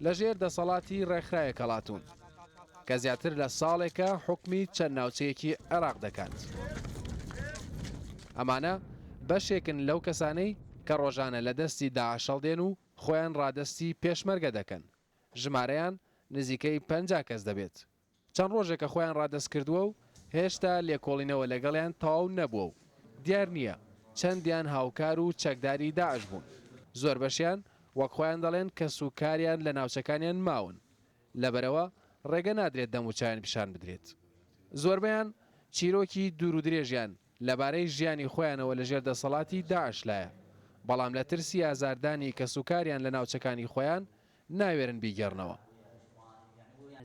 لە ژێر دەسەڵاتی ڕێکخرا یەکەڵاتوون کە زیاتر لە ساڵێکە حکومی چەند ناوچەیەکی عێراق دەکات. ئەمانە بەشێکن لەو کەسانەی کە ڕۆژانە لە دەستی داعش هەڵدێن و خۆیان ڕادەستی پێشمەرگە دەکەن، ژمارەیان نزیکەی پەنجا کەس دەبێت. چەند ڕۆژێکە خۆیان ڕادەست کردووە و هێشتا لێکۆڵینەوە لەگەڵیان تەواو نەبووە و دیار نییە چەندیان هاوکار و چەکداری داعش بوون. زۆربەشیان وەک خۆیان دەڵێن کەس و کاریان لە ناوچەکانیان ماون، لەبەرئەوە ڕێگە نادرێت دەم و چاویان پیشان بدرێت. زۆربەیان چیرۆکی دوور و درێژیان لەبارەی ژیانی خۆیانەوە لەژێر دەسەڵاتی داعشلایە، بەڵام لە ترسی ئازاردانی کەس و کاریان لە ناوچەکانی خۆیان ناوێرن بیگێڕنەوە.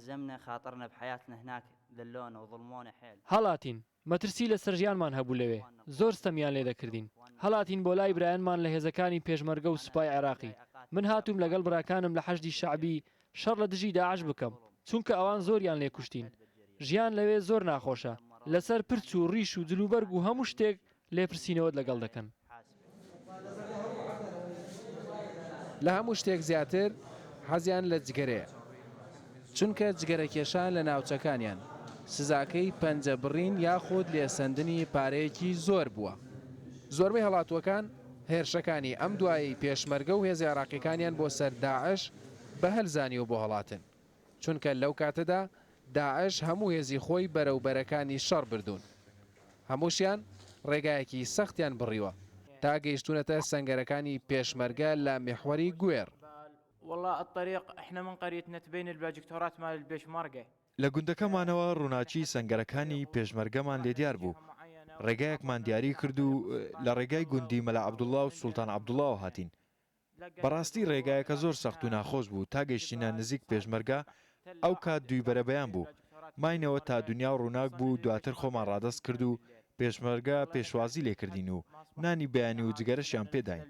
زەمنە خاتڕنە بحیاتنە هناک ذلۆنە وظڵمۆنە حێل. هەڵاتین، مەترسی لەسەر ژیانمان هەبوو لەوێ، زۆر ستەمیان لێ دەکردین. هەڵاتین بۆ لای برایانمان لە هێزەکانی پێشمەرگە و سوپای عێراقی. من هاتووم لەگەڵ براکانم لە حەشدی شەعبی شەڕ لە دژی داعش بکەم، چونکە ئەوان زۆریان لێ کوشتین. ژیان لەوێ زۆر ناخۆشە، لەسەر پرچ و ڕیش و جلوبەرگ و هەموو شتێک لێپرسینەوەت لەگەڵ دەکەن. لە هەموو شتێک زیاتر حەزیان لە جگەرەیە، چونکە جگەرەکێشان لە ناوچەکانیان، سزاکەی پەنجە بڕین یاخود لێسەندنی پارەیەکی زۆر بووە. زۆربەی هەڵاتووەکان هێرشەکانی ئەم دوایەی پێشمەرگە و هێزە عێراقییەکانیان بۆ سەر داعش بە هەل زانیوە بۆ هەڵاتن. چونکە لەو کاتەدا داعش هەموو هێزی خۆی بەرەو بەرەکانی شەڕ بردوون هەمووشیان ڕێگایەکی سەختیان بڕیوە تا گەیشتوونەتە سەنگەرەکانی پێشمەرگە لە میحوەری گوێڕ. لە گوندەکەمانەوە ڕووناکی سەنگەرەکانی پێشمەرگەمان لێ دیار بوو ڕێگایەکمان دیاری کرد و لە ڕێگای گوندی مەلا عەبدوڵڵا و سوڵتان عەبدوڵڵاوە هاتین بەڕاستی ڕێگایەکە زۆر سەخت و ناخۆش بوو تا گەیشتینە نزیک پێشمەرگە ئەو کات دووی بەرەبەیان بوو ماینەوە تا دونیا و ڕووناک بوو دواتر خۆمان ڕادەست کرد و پێشمەرگە پێشوازی لێ کردین و نانی بەیانی و جگەرەشیان پێ داین.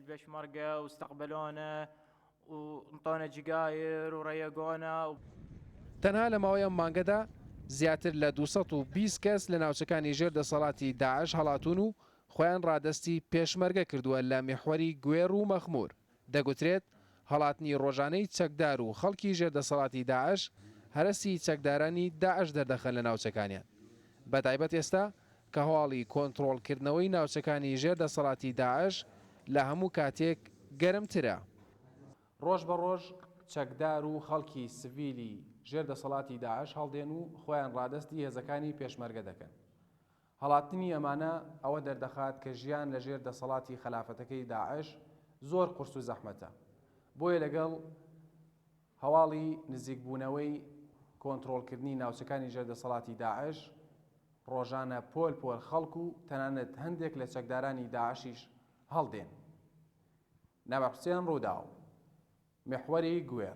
تەنها لە ماوەی ئەم مانگەدا زیاتر لە دوو سەد و بیست کەس لە ناوچەکانی ژێر دەسەڵاتی داعش هەڵاتوون و خۆیان ڕادەستی پێشمەرگە کردووە لە میحوەری گوێڕ و مەخموور، دەگوترێت هەڵاتنی ڕۆژانەی چەکدار و خەڵکی ژێر دەسەڵاتی داعش هەرەسی چەکدارانی داعش دەردەخەن لە ناوچەکانیان، بەتایبەت ئێستا کە هەواڵی کۆنتڕۆڵ کردنەوەی ناوچەکانی ژێر دەسەڵاتی داعش لە هەموو کاتێک گەرمترە. ڕۆژ بە ڕۆژ چەکدار و خەڵکی سڤیلی ژێر دەسەڵاتی داعش هەڵدێن و خۆیان ڕادەستی هێزەکانی پێشمەرگە دەکەن، هەڵاتنی ئەمانە ئەوە دەردەخات کە ژیان لە ژێر دەسەڵاتی خەلافەتەکەی داعش زۆر قورس و زەحمەتە بۆیە لەگەڵ هەواڵی نزیکبوونەوەی کۆنتڕۆڵکردنی ناوچەکانی ژێر دەسەڵاتی داعش ڕۆژانە پۆل پۆل خەڵک و تەنانەت هەندێک لە چەکدارانی داعشیش هەڵدێن نەبەحسیان ڕووداو محوەری گوێر